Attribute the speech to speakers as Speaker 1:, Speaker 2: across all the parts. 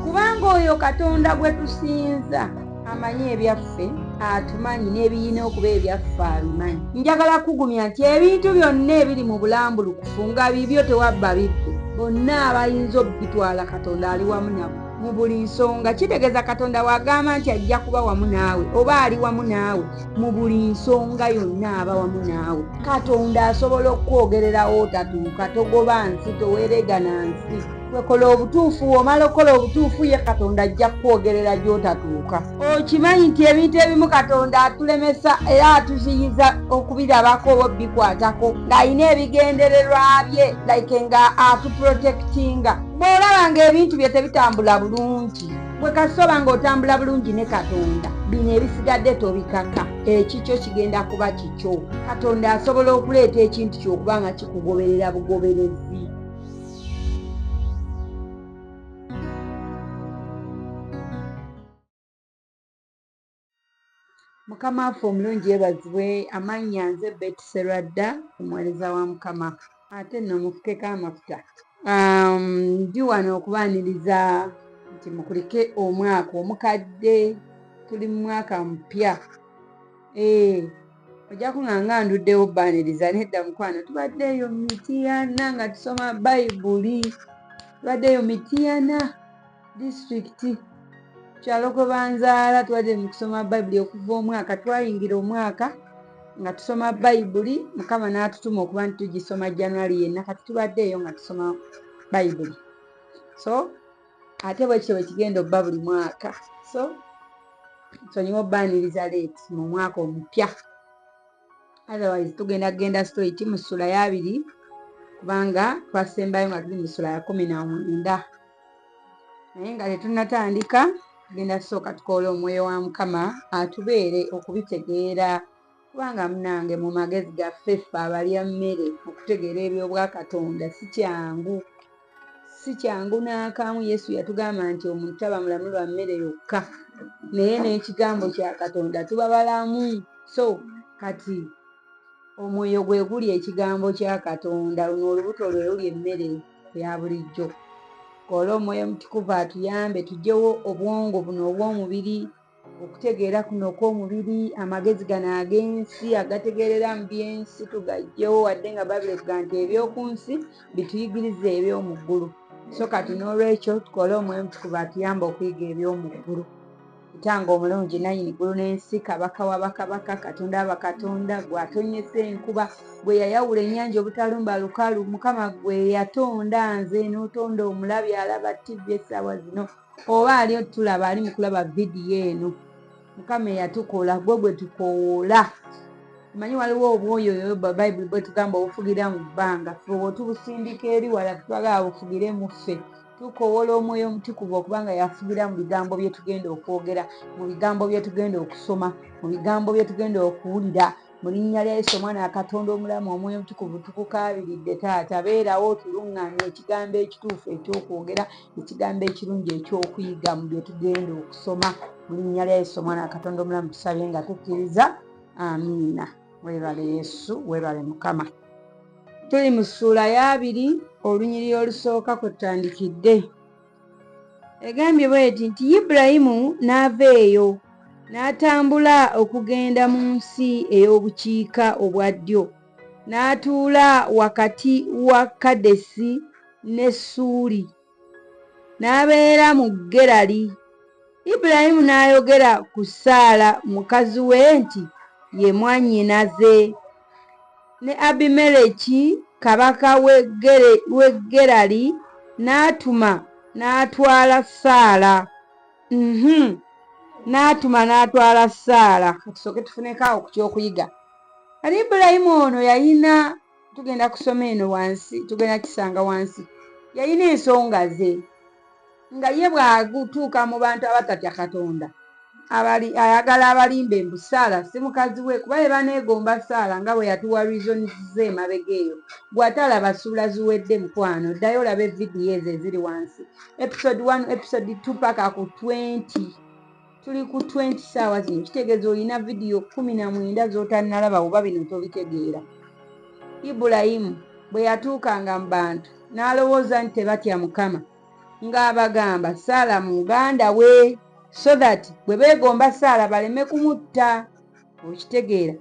Speaker 1: kubanga oyo katonda gwe tusinza amanyi ebyaffe atumanyi n'ebiyina okuba ebyaffe abimanyi njagala kugumya nti ebintu byonna ebiri mu bulambulukufu nga bibyo tewabba bibbi bonna abayinza okubitwala katonda ali wamu nabo mu buli nsonga kitegeeza katonda wagamba nti ajja kuba wamu naawe oba ali wamu naawe mu buli nsonga yonna aba wamu naawe katonda asobola okukwogererawo otatuuka togoba nsi toweregana nsi wekola obutuufu womala okukola obutuufu ye katonda ajja kukwogerera gyotatuuka okimanyi nti ebintu ebimu katonda atulemesa era atuziyiza okubirabako oba obikwatako ng'alina ebigendererwa bye like nga atuprotektinga bw'olaba ng'ebintu bye tebitambula bulungi gwe kasita oba nga otambula bulungi ne katonda bino ebisigadde tobikaka ekikyo kigenda kuba kikyo katonda asobola okuleeta ekintu kyokuba nga kikugoberera bugoberezi mukama waffe omulungi yebazibwe amannya nze beti serwadda omuwereza wa mukama ate nno mufukeko amafuta um, ndi wano okubaaniriza nti mukulike omwaka omukadde tuli mu mwaka mupya ee eh, ojja kunga nga nduddewo baaniriza nedda mukwano tubadde eyo mitiyana nga tusoma bayibuli tubadde eyo mitiyana Disitulikiti kyalo gwe banzaala twali mu kusoma bayibuli okuva omwaka twayingira omwaka nga tusoma bayibuli mukama n'atutuma okuba nti tugisoma january yenna kati tubadde eyo nga tusoma bayibuli so ate bwekityo bwekigenda obba buli mwaka so nsonyiwa obbaaniriza leeti mu mwaka omupya otherwise tugenda kugenda straight mu ssula y'abiri kubanga twasembayo nga tuli mu ssula ya kumi na mwenda naye nga tetunnatandika tugenda kusooka tukoola omwoyo wa mukama atubeere okubitegeera kubanga munange mu magezi gaffe ffe abalya mmere okutegeera eby'obwakatonda si kyangu Si kyangu n'akamu. Yesu yatugamba nti omuntu taba mulamu lwa mmere yokka, naye n'ekigambo kya Katonda tuba balamu. So kati omwoyo gwe guli ekigambo kya Katonda, luno olubuto lwe luli emmere ya bulijjo. Kola omwoyo omutukuvu atuyambe tujjewo obwongo buno obw'omubiri. okutegeera kuno okw'omubiri amagezi gano ag'ensi agategeerera mu by'ensi tugajjewo wadde nga babiri tuga nti eby'oku nsi bituyigiriza eby'omu ggulu so kati n'olwekyo tukole omwemutukuba atuyamba okuyiga eby'omu ggulu kutanga omulungi nanyini ggulu n'ensi kabaka wa bakabaka katonda aba katonda gwe atonyesa enkuba gwe yayawula ennyanja obutalumba lukalu mukama gwe yatonda nze n'otonda omulabi alaba ttivi essaawa zino oba ali otulaba ali mukulaba vidiyo eno mukama eyatukola gwe gwe tukowoola omanyi waliwo obwoyo oyo bayibuli bwetugamba obufugira mu bbanga feotubusindika eri wala twagala bufugire mu ffe tukowola omwoyo omutukuvu okubanga yafugira mu bigambo byetugenda okwogera mu bigambo byetugenda okusoma mu bigambo byetugenda okuwulira mu linnya lya yesu omwana wa katonda omulamu omwoyo omutukuvu tukukaabiridde taata beerawo otuluŋŋamya ekigambo ekituufu ekyokwogera ekigambo ekirungi ekyokuyiga mu bye tugenda okusoma mu linnya lya yesu omwana wa katonda omulamu tusabye nga tukkiriza amiina weebale yesu weebale mukama tuli mu ssuula y'abiri olunyiriri olusooka kwe tutandikidde egambye bweti nti ibulayimu n'ava eyo n'atambula okugenda mu nsi ey'obukiika obwa ddyo n'atuula wakati wa kadesi ne suuli n'abeera mu gerali ibulayimu n'ayogera ku saala mukazi we nti ye mwannyinaze Ne Abimereki kabaka w'e Gerali n'atuma n'atwala Saala. Uhmm. N'atuma n'atwala Saala. Ka tusooke tufuneko awo ku ky'okuyiga. Kati Ibulayimu ono yalina, tugenda kusoma eno wansi, tugenda kukisanga wansi, yalina ensonga ze. nga ye bw'agutuuka mu bantu abatatya Katonda abali ayagala abalimbe mbu Saala si mukazi we kuba ye baneegomba Saala nga bwe yatuwa reasons ze emabega eyo gwe ate alaba ssuula ziwedde mukwano ddayo olabe vidiyo ezo eziri wansi episode 1 episode 2 paka ku 20 tuli ku 20 saawa zino kitegeeza olina vidiyo kumi na mwenda z'otannalaba oba bino tobitegeera ibulayimu bwe yatuukanga mu bantu n'alowooza nti tebatya mukama ng'abagamba Saala muganda we so that bwe beegomba Saala baleme kumutta okitegeera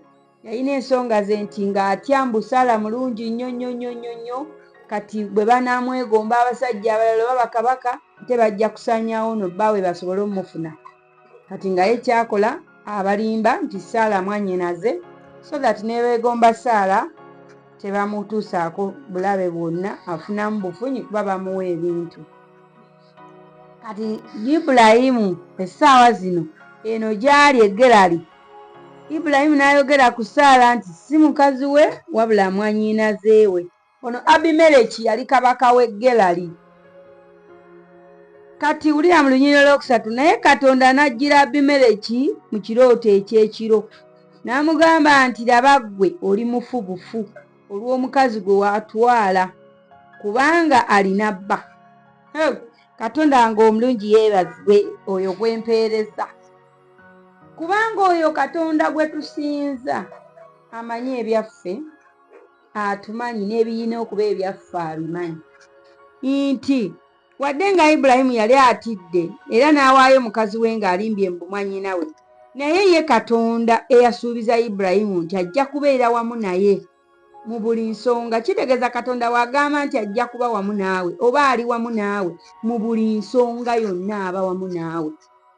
Speaker 1: yalina ensonga ze nti ng'atya mbu Saala mulungi nnyo nnyo nnyo nnyo nnyo kati bwe banaamwegomba abasajja abalala oba bakabaka ate bajja kusaanyaawo no bbaawe basobole omufuna kati nga ye kyakola abalimba nti saala mwanyinaze so that nebegomba saala tebamutuusaako bulabe bwonna afunamu bufunyi kuba bamuwa ebintu kati ibulayimu essaawa zino eno gyali egerali ibulayimu n'ayogera ku saala nti si mukazi we wabula mwanyinazeewe Ono Abimeleki yali kabaka w'e Gerali. Kati wulira mu lunyiriro lwokusatu, naye Katonda n'ajjira Abimeleki mu kirooto eky'ekiro, n'amugamba nti, Laba ggwe oli mufu bufu olw'omukazi gwe watwala, kubanga alina bba. Hee! Katonda wange omulungi yeebazibwe, oyo gwe mpeereza, kubanga oyo Katonda gwe tusinza amanyi ebyaffe. atumanyi n'ebiyina okuba ebyaffe abimanyi nti wadde nga ibulayimu yali atidde era n'awaayo mukazi we ng'alimbye mu bumwanyina we naye ye katonda eyasuubiza ibulayimu nti ajja kubeera wamu naye mu buli nsonga kitegeeza katonda wagamba nti ajja kuba wamu naawe oba ali wamu naawe mu buli nsonga yonna aba wamu naawe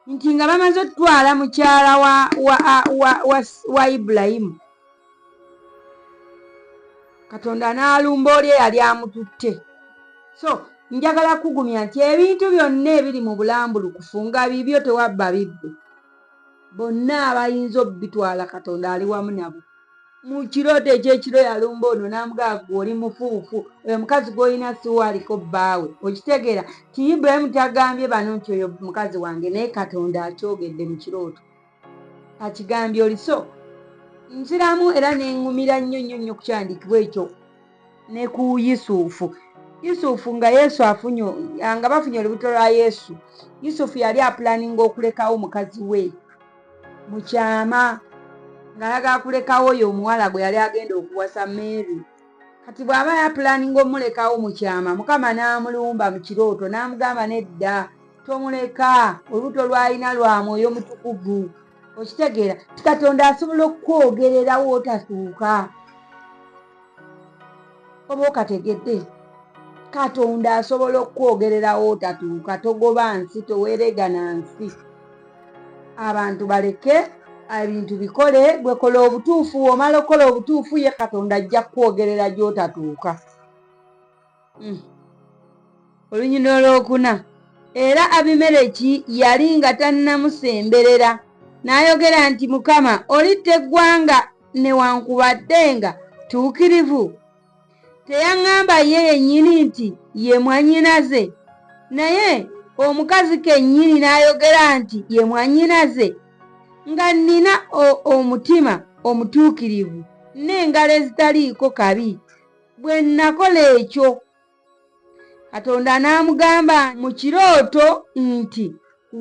Speaker 1: nti nga bamaze okutwala mukyala wa, wa, wa, wa, wa ibulayimu katonda n'alumba oli eyali amututte so njagala kugumya nti ebintu byonna ebiri mu bulambulukufu nga bibyo tewabba bibbe bonna abayinza obitwala katonda ali wamu nabo mu kirooto ekyekiro yalumba ono n'amugaagu oli mufuufu oyo mukazi gw'olina siwaaliko bbaawe okitegeera ti ibrahimu tagambye bano nti oyo mukazi wange naye katonda akyogedde mu kirooto akigambye oliso nziramu era nengumira nnyo nnyo nnyo kukyandikibwa ekyo ne ku yusufu yusufu nga yesu afunye nga bafunye olubuto lwa yesu yusufu yali apulaninga okulekawo mukazi we mu kyama ng'alaga akulekawo oyo omuwala gwe yali agenda okuwasa mary kati bw'aba yapulaninga omulekawo mu kyama mukama n'amulumba mu kirooto n'amugamba nedda tomuleka olubuto lwalina lwa mwoyo mutukuvu okitegeera ti katonda asobola okukwogererawo otasuuka oba okategedde katonda asobola okukwogererawo otatuuka togoba nsi toweregana nsi abantu baleke ebintu bikole gwekola obutuufu omala okukola obutuufu ye katonda ajja kukwogerera gyotatuuka Hmm. olunyina olwokuna era abimereki yali nga tannamusemberera n'ayogera nti mukama olitta eggwanga newankubadde nga tuukirivu teyaŋŋamba ye yennyini nti ye mwannyinaze naye omukazi kennyini n'ayogera nti ye mwannyinaze nga nnina omutima omutuukirivu n'engalo ezitaliiko kabi bwe nnakola ekyo katonda n'amugamba mu kirooto nti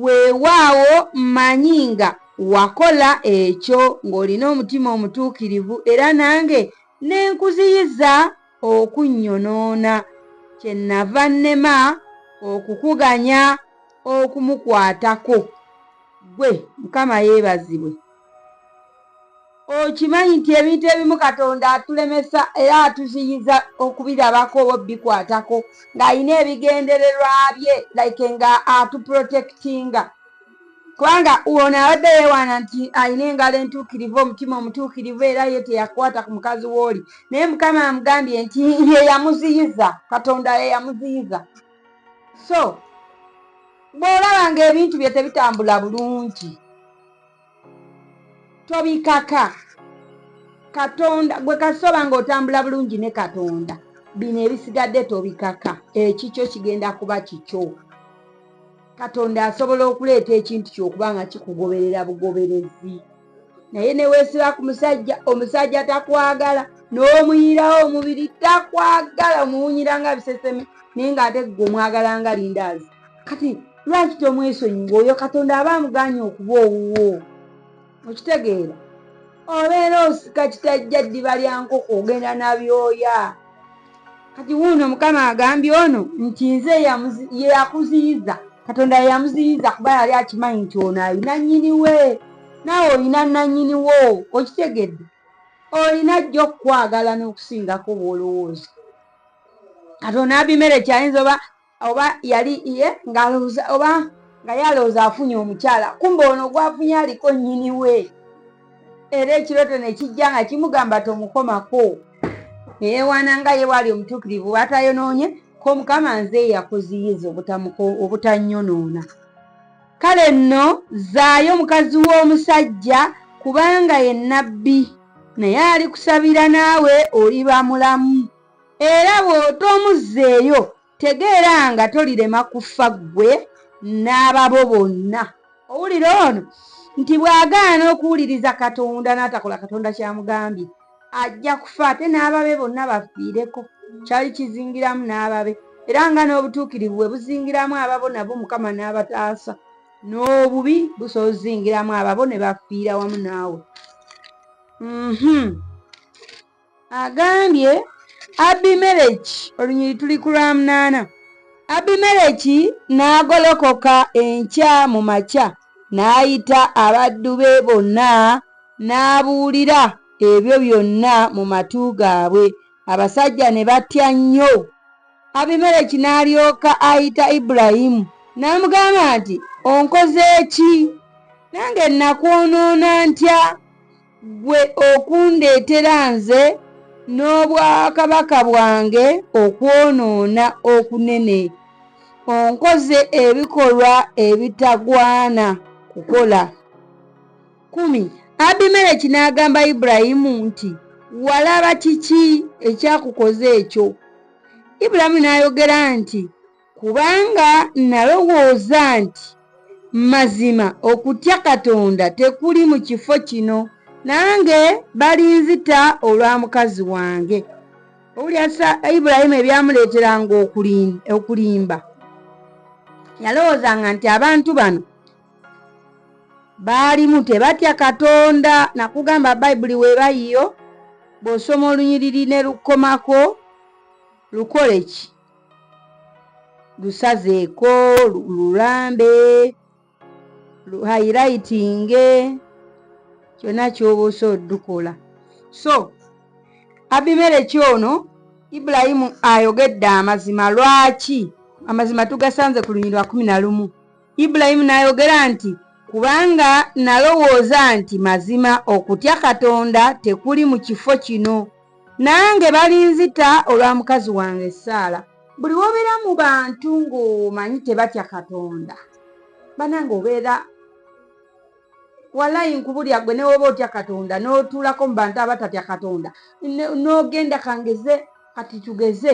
Speaker 1: weewaawo mmanyi nga wakola ekyo ng'olina omutima omutuukirivu era nange ne nkuziyiza okunnyonoona kye nnava nnema okukuganya okumukwatako ggwe mukama yeebazibwe Okimanyi nti ebintu ebimu Katonda atulemesa era atuziyiza okubirabako oba obikwatako ng'alina ebigendererwa bye like nga atuprotectinga kubanga ono abadde yeewaana nti alina engalo entuukirivu omutima omutuukirivu era ye teyakwata ku mukazi w'oli naye mukama amugambye nti ye yamuziyiza katonda ye yamuziyiza so bw'olaba ng'ebintu bye tebitambula bulungi tobikaka katonda gwe kasoba nga otambula bulungi ne katonda bino ebisigadde tobikaka ekikyo kigenda kuba kikyo katonda asobola okuleeta ekintu kyokuba nga kikugoberera bugoberezi naye newesiba ku musajja omusajja takwagala n'omuyirawo omubiri takwagala omuwunyira nga biseseme naye nga ate gwe omwagala nga lindaazi kati lwaki tomwesonyiwa oyo katonda aba amuganye okuba owuwo okitegeera obeera osika kitajja ddiba lya nkoko ogenda nabyoya kati wuuno mukama agambye ono nti nze yeyakuziyiza katonda yeyamuziyiza kuba yali akimanyi nti ono alina nyiniwe naawe olina nanyiniwo okitegedde olina jjo okukwagala n'okusingaku obwolowooza katonda abimereki ayinza oba oba yali ye ngaloza oba nga yalooza afunye omukyala kumba ono gwafunye aliko nyini we era ekiroto nekijja nga kimugamba tomukomako neyewaana nga ye waali omutuukirivu bwatayonoonye ko mukama nze yakuziyiza obutanyonoona kale nno zaayo mukazi w'omusajja kubanga ye nabbi naye alikusabira naawe oliba mulamu Era bw'otomuzzeeyo, tegeera nga tolirema kufa ggwe n'ababo bonna. Owulira ono nti bw'agaana okuwuliriza Katonda n'atakola Katonda ky'amugambye, ajja kufa ate n'ababe bonna bafiireko. Kyali kizingiramu n'ababe, era nga n'obutuukirivu bwe buzingiramu ababo nabo Mukama n'abataasa, n'obubi busobola okuzingiramu ababo ne bafiira wamu naawe. Um-hum. Agambye Abimereki, olunyiri tuli ku lwamunaana, Abimereki n'agolokoka enkya mu makya n'ayita abaddu be bonna n'abuulira ebyo byonna mu matu gaabwe, abasajja ne batya nnyo. Abimereki n'alyoka ayita Ibulayimu n'amugamba nti, Onkoze ki? Nange nnakwonoona ntya? Ggwe okundeetera nze n'obwakabaka bwange okwonoona okunene. Onkoze ebikolwa ebitagwana kukola. Kumi, Abimereki n'agamba Ibulayimu nti, Walaba kiki ekyakukoza ekyo? Ibulayimu n'ayogera nti, Kubanga nnalowooza nti, Mazima okutya Katonda tekuli mu kifo kino, nange balinzita olwa mukazi wange. Owulira sa, Ibulayimu ebyamuleeteranga okulim, okulimba. Yalowoozanga nti abantu bano baalimu tebatya Katonda. Nakugamba Bayibuli weba yiyo, bw'osoma olunyiriri ne lukkomako, lukole ki? lusazeeko lulambe luhayirayitinge kyonna kyoba osa odukola so abimereki ono ibulayimu ayogedde amazima lwaki amazima tugasanze ku lunyirwa kumi na lumu ibulayimu n'ayogera nti kubanga nalowooza nti mazima okutya katonda tekuli mu kifo kino Nange balinzita olwa mukazi wange Saala. Buli wobera mu bantu ng'omanyi tebatya Katonda banange obeera walayi nkubulya gwe newoba otya Katonda n'otuulako mu bantu abatatya Katonda n'ogenda kangeze kati tugeze.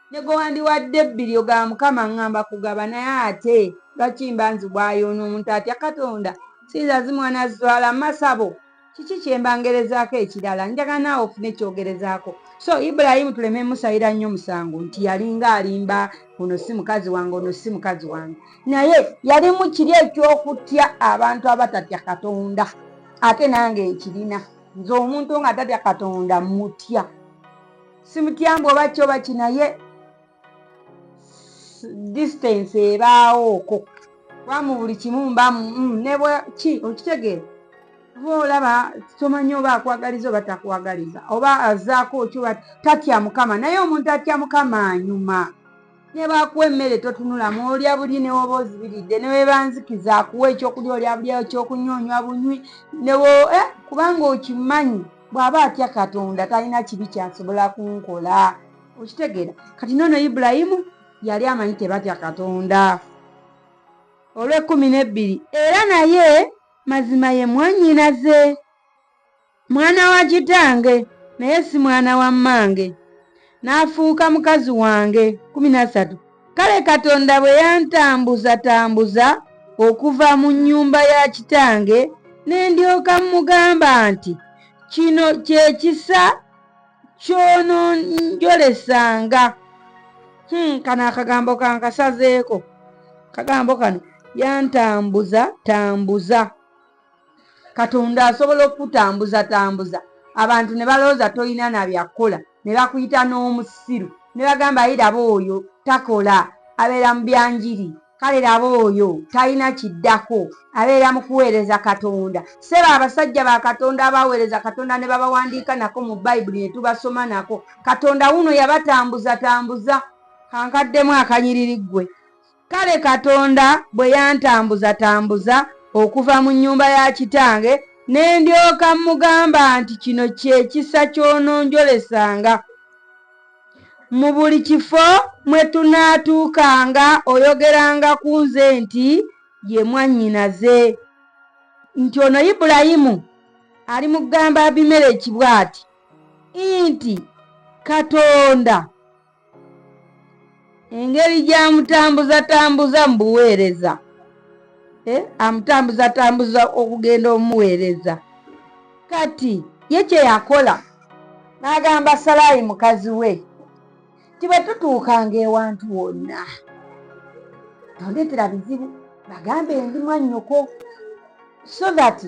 Speaker 1: Negowandiwadde bilyo ga mukama ngamba kugaba naye ate lwaki mba nzibwa ayo ono omuntu atya katonda sinza zimwana zwala masabo kiki kyemba ngerezako ekirala njagala naawe ofune kyogerezako so Ibrahim tuleme musayira nnyo musango nti yalinga alimba ono si mukazi wange ono si mukazi wange naye yalimu kiri ekyokutya abantu abatatya katonda ate nange nkirina nze omuntu nga tatya katonda mutya simutyambu oba ki oba kinaye distance ebaawooko kuba mu buli kimu mba mm, nebwa ki okitegeera oba olaba tomanyi oba akwagaliza oba takwagaliza oba azaako oky oba tatya mukama naye omuntu atya mukama anyuma ne baakuwa emmere totunulamu olya buli ne woba ozibiridde ne webanzikiza akuwa ekyokulya olya buli ekyokunywa onywa bunywi newo eh, kubanga okimanyi bw'aba atya katonda talina kibi kyasobola kunkola okitegeera kati noono ibulayimu yali amanyi tebatya katonda olw'ekkumi n'ebbiri era naye mazima ye mwanyinaze Mwana wa kitange naye si mwana wa mmange, n'afuuka mukazi wange. kumi na ssatu Kale Katonda bwe yantambuzatambuza okuva mu nnyumba ya kitange, ne ndyoka mmugamba nti, Kino kye kisa ky'ononjolesanga. Hmm, kano akagambo kankasazeeko. Akagambo kano yantambuza tambuza. katonda asobola okukutambuza tambuza abantu ne balowooza tolina na byakukola ne bakuyita n'omusiru ne bagamba ye laba oyo takola abeera mu byanjiri kale laba oyo talina kiddako abeera mu kuweereza katonda seba abasajja ba katonda abaweereza katonda ne babawandiika nako mu bayibuli ne tubasoma nako katonda wuno yabatambuzatambuza kankaddemu akanyiriri ggwe Kale Katonda bwe yantambuzatambuza okuva mu nnyumba ya kitange, ne ndyoka mmugamba nti, Kino kye kisa ky'ononjolesanga. Mu buli kifo mwe tunaatuukanga oyogeranga ku nze nti, Ye mwannyinaze. Nti ono Ibulayimu alimugamba Abimereki bw'ati nti, Katonda. engeri gyamutambuzatambuza mu buweereza eh, amutambuzatambuza okugenda omuweereza kati ye kye yakola n'agamba salaayi mukazi we nti bwe tutuukanga ewantu wonna tondeetera bizibu bagambe ndi mwannyoko so that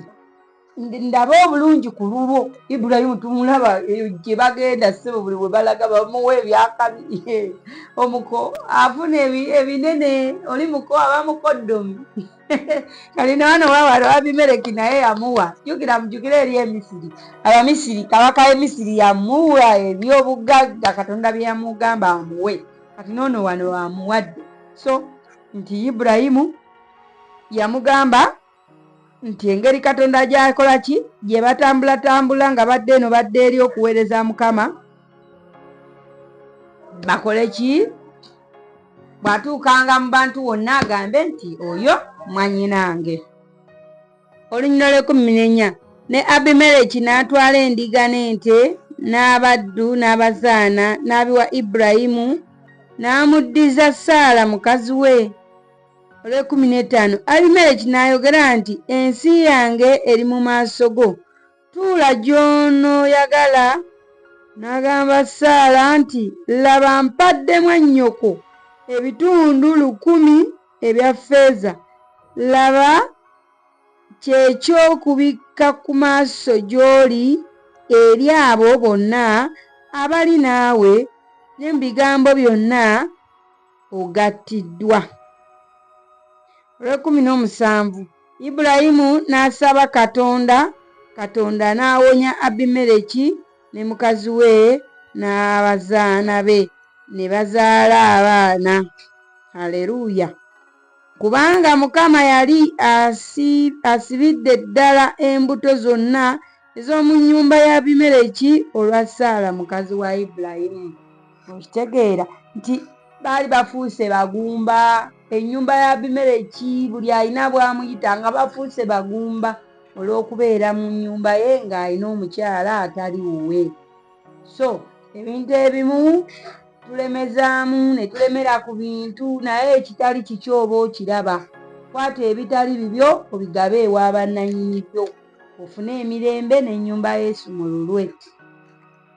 Speaker 1: ndaba obulungi ku lulwo ibulayimu tumulaba eyo gye bagenda sebo buli we balaga bamuwa ebyakabi omuko afuna ebinene oli muko aba mukoddomi kali nawana wawala wabimereki naye yamuwa jukira mujukire eri emisiri abamisiri kabaka emisiri yamuwa ebyobugagga katonda bye yamugamba amuwe kati noono wano wamuwadde so nti ibulayimu yamugamba nti engeri katonda gyakola ki gye batambulatambula nga badde eno badde eri okuweereza mukama bakole ki bw'atuukanga mu bantu wonna agambe nti oyo mwanyinange olunyina lw'ekumi nenya ne abimereki n'atwala endiga n'ente n'abaddu n'abazaana n'abiwa iburayimu n'amuddiza saala mukazi we olwekumi n'etaano abimereki n'ayogera nti ensi yange eri mu maaso go tuula gy'onooyagala n'agamba saala nti laba mpadde mwannyoko ebitundu lukumi ebya ffeeza laba kyekyokubikka ku maaso gy'oli eri abo bonna abali naawe ne mu bigambo byonna ogattiddwa. Olw'ekkumi n'omusanvu, Ibulayimu n'asaba Katonda, Katonda n'awonya Abimereki ne mukazi we n'abazaana be, ne bazaala abaana. Aleruuya! Kubanga Mukama yali asibidde ddala embuto zonna ez'omu nnyumba ya Abimereki olwa Saala mukazi wa Ibulayimu. okitegeera nti baali bafuuse bagumba ennyumba ya abimereki buli alina bwamuyita nga bafuuse bagumba olw'okubeera mu nnyumba ye ng'alina omukyala atali wuwe so ebintu ebimu tulemezaamu ne tulemera ku bintu naye ekitali kiki oba okiraba kwata ebitali bibyo obigabe ewa bannanyini byo ofune emirembe n'ennyumba yesu mu lulwe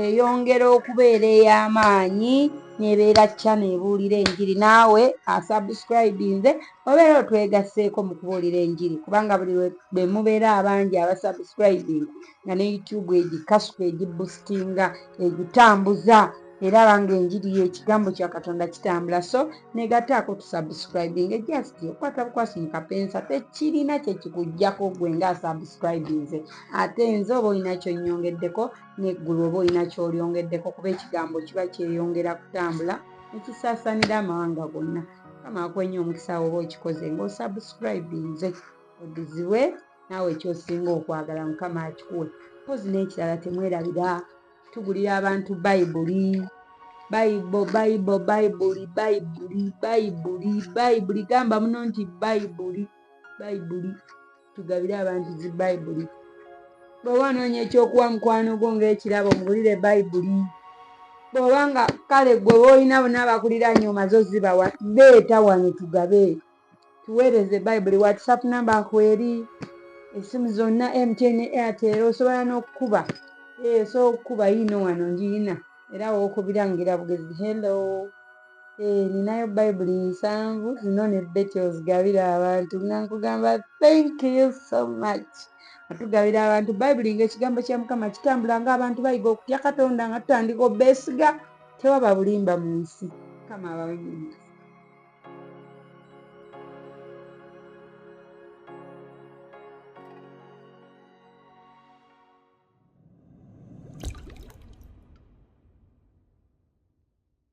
Speaker 1: eyongera okubeera ey'amaanyi nebeera channel ebuulira enjiri naawe asubscribinze obeera otwegasseeko mu kubuulira enjiri kubanga buli bwe mubeera abangi abasubscribing nga ne youtube egikasuka egibustinga egitambuza era banga enjiri yekigambo kya katonda kitambula so negataako tusubscribing just okwata bukwasi mu kapensa tekirina kyekikujjako gwe nga asubscribinze ate nze oba olina kyonyongeddeko n'eggulu oba olina ky'olyongeddeko kuba ekigambo kiba kyeyongera kutambula ne kisaasaanira amawanga gonna mukama akwenye omukisa woba okikoze ng'osubscribinze odizibwe naawe kyosinga okwagala mukama akikuwe mpozi n'ekirala temwerabira tugulira abantu bayibuli bayibo bayibo bayibuli bayibuli bayibuli bayibuli gamba muno nti bayibuli bayibuli tugabire abantu zi bayibuli bw'oba onoonya ekyokuwa mukwano gwo ng'ekirabo mubulire bayibuli bw'oba nga kale gwe boolina bona abakulira nyo omaze ozibawa leeta wano tugabe tuweereze bayibuli whatsapp namba nkweri esimu zonna mtn airtel osobola n'okukuba eh, so okukuba yiino wano ngiyina era wookubirangira bugezi hello Eeh ninayo bayibuli nsanvu zino ne Betty ozigabire abantu nga nkugamba thank you so much atugabira abantu bayibuli nga ekigambo kya mukama kitambula nga abantu bayiga okutya katonda nga tutandika obesiga tewaba bulimba mu nsi mukama abawumiriza